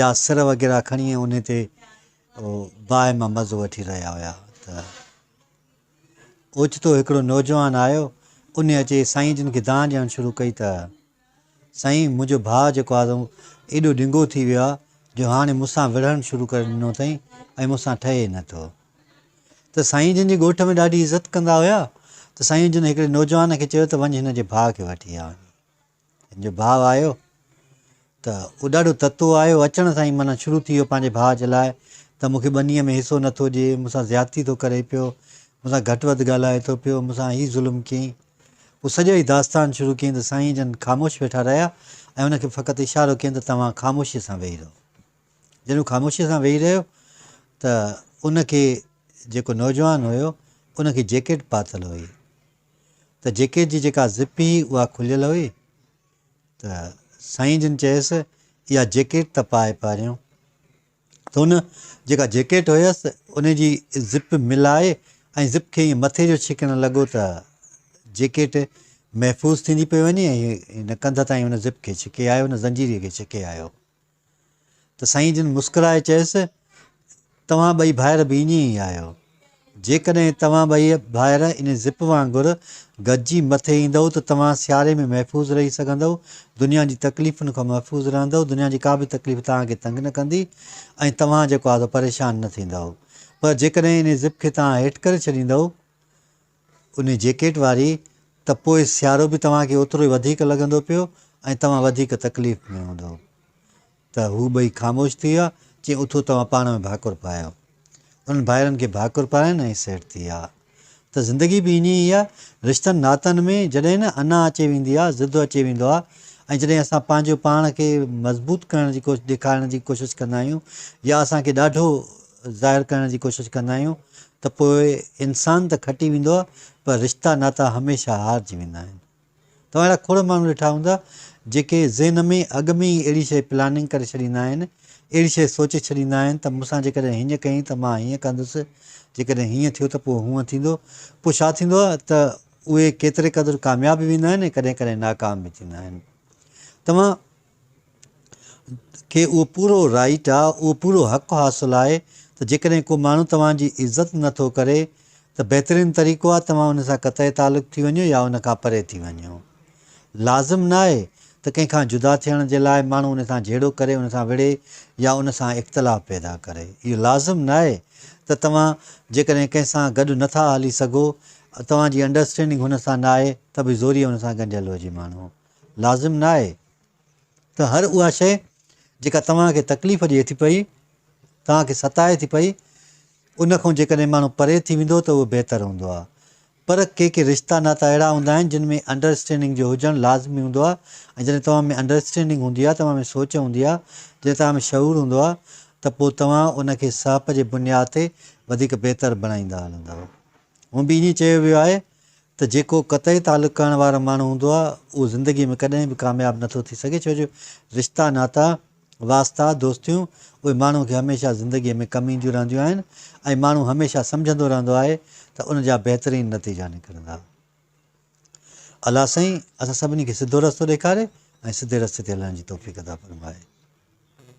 يا سر وغيره کڻي ۽ انهي تي باهه مان مزو وٺي رهيا هيا ته اوچتو هڪڙو نوجوان آيو، انهي اچي سائين جن کي دانهن ڏيڻ شروع ڪئي ته سائين منهنجو ڀاء جيڪو آهي سو ايڏو ڊنگو ٿي ويو آهي جو هاڻي مون سان وڙهڻ شروع ڪري ڏنو اٿئي ۽ مون سان ٺهي نه ٿو. ته سائين جن جي ڳوٺ ۾ ڏاڍي عزت ڪندا هيا ته سائين جن هڪڙي نوجوان کي چيو ته وڃ هن جي ڀاء کي وٺي آ وڃي. هن جو ڀاء آيو ته اڏاڍو تتو آيو، اچڻ سان ئي معنيٰ شروع ٿي ويو پنهنجي ڀاء جي لاء ته مون کي ٻنيء ۾ حصو نه ٿو ڏئي، مون سان زيادتي ٿو ڪري پيو، مون سان گهٽ وڌ ڳالهائي ٿو پيو، مون سان هي ظلم ڪيئي. پوء سڄو ئي داستان شروع ڪيئي ته سائين جن خاموش ويٺا رهيا ۽ هن کي فقط اشارو ڪيئن ته توهان خاموشيء سان ويهي رهو. جڏهن هو خاموشيء سان ويهي رهيو ته ان کي جيڪو نوجوان هيو ان کي جيڪيٽ پاتل هئي. ته جيڪي جي جيڪا زپ هئي اها کليل هئي ته سائين جن چيس اها جيڪيٽ ته پائي پهريون. ته هن جيڪا جيڪيٽ هيس ان جي زپ ملائي ۽ زپ کي ائين مٿي جو ڇڪڻ لڳو ته جيڪيٽ محفوظ ٿيندي پئي وڃي ۽ هن ڪنڌ تائين ان زپ کي ڇڪي آيو، ان زنجيري کي ڇڪي آيو. ته سائين جن مسڪرائي چيس، توهان ٻئي ڀائر به ائين ئي آهيو. جيڪڏهن توهان ٻئي ڀائر ان زپ وانگر گڏجي مٿي ايندؤ ته توهان سياري ۾ محفوظ رهي سگهندؤ، دنيا جي تڪليفن کان محفوظ رهندؤ، دنيا جي ڪا به تڪليف توهان کي تنگ نه ڪندي ۽ توهان جيڪو آهي سو پريشان نه ٿيندؤ. پر جيڪڏهن ان زپ کي توهان هيٺ ڪري ڇڏيندؤ، انهي جيڪيٽ واري، ته پوء سيارو به توهان کي اوترو ئي وڌيڪ لڳندو پيو ۽ توهان وڌيڪ تڪليف ۾ هوندؤ. ته هو ٻئي خاموش ٿي ويا. چيائين، اٿو توهان پاڻ ۾ ڀاڪر پايو. انهن ڀائرن کي ڀاڪر پاراين ۽ سيٽ ٿي ويا. ته زندگي به ائين ئي آ. رشتن ناتن ۾ جڏهن نه انا اچي ويندي آ، ضد اچي ويندو آ ۽ جڏهن اسان پنهنجو پاڻ کي مضبوط ڪرڻ جي ڪوشش ڏيکارڻ جي ڪوشش ڪندا آهيون يا اسان کي ڏاڍو ظاهر ڪرڻ جي ڪوشش ڪندا آهيون ته پوء انسان ته کٽي ويندو آهي پر رشتا ناتا هميشه هارجي ويندا آهن. توهان اهڙا کوڙ ماڻهو ڏٺا هوندا جيڪي ذهن ۾ اڳ ۾ ئي اهڙي شيء پلاننگ ڪري ڇڏيندا آهن، اهڙي شيء سوچي ڇڏيندا آهن ته مون سان جيڪڏهن هينئن ڪيائين ته مان هينئن ڪندس، جيڪڏهن هينئن ٿيو ته پوء هونئن ٿيندو. پوء ڇا ٿيندو آهي ته اهي ڪيتري قدر ڪامياب به ويندا آهن ۽ ڪڏهن ڪڏهن ناڪام به ٿيندا آهن. توهان. کي اهو پورو رائيٽ آ، اهو پورو حق حاصل آهي ته جيڪڏهن ڪو ماڻهو توهان جي عزت نه ٿو ڪري ته بهترين طريقو آ توهان ان سان قطعي تعلق ٿي وڃو يا ان کان پري ٿي وڃو. لازم نه آهي ته ڪنهن کان جدا ٿيڻ جي لاء ماڻهو ان سان جهيڙو ڪري، ان سان وڙهي يا ان سان اختلاف پيدا ڪري. اهو لازم نه آهي ته توهان جيڪڏهن ڪنهن سان گڏ نه ٿا هلي سگهو، توهان جي انڊرسٽينڊنگ هن سان نه آهي ته به زوريء ان سان ڳنڍيل هجي ماڻهو. لازم نه آهي ته هر اها شيء جيڪا توهان کي تڪليف ڏئي ٿي پئي، توهان کي ستائي ٿي پئي، ان کان جيڪڏهن ماڻهو پري ٿي ويندو ته اهو بهتر هوندو آهي. پر ڪي ڪي رشتا ناتا اهڙا هوندا آهن جن ۾ انڊرسٽينڊنگ جو هجڻ لازمي هوندو آهي ۽ جڏهن توهان ۾ انڊرسٽينڊنگ هوندي آهي، توهان ۾ سوچ هوندي آهي، جڏهن توهان ۾ شعور هوندو آهي ته پوء توهان ان کي سهپ جي بنياد تي وڌيڪ بهتر بڻائيندا هلندؤ. هونء به ائين چيو ويو آهي ته جيڪو قطعي تعلق ڪرڻ وارو ماڻهو هوندو آهي اهو زندگي ۾ ڪڏهن به ڪامياب نه ٿو ٿي سگهي ڇو جو رشتا ناتا، واسطا، دوستيون اهي ماڻهو کي هميشه زندگي ۾ ڪم اينديون رهنديون آهن ۽ ماڻهو هميشه سمجهندو رهندو آهي ته ان جا بهترين نتيجا نڪرندا. الله سائين اسان سڀني کي سڌو رستو ڏيکاري ۽ سڌي رستي تي هلڻ جي توفيق عطا فرمائي.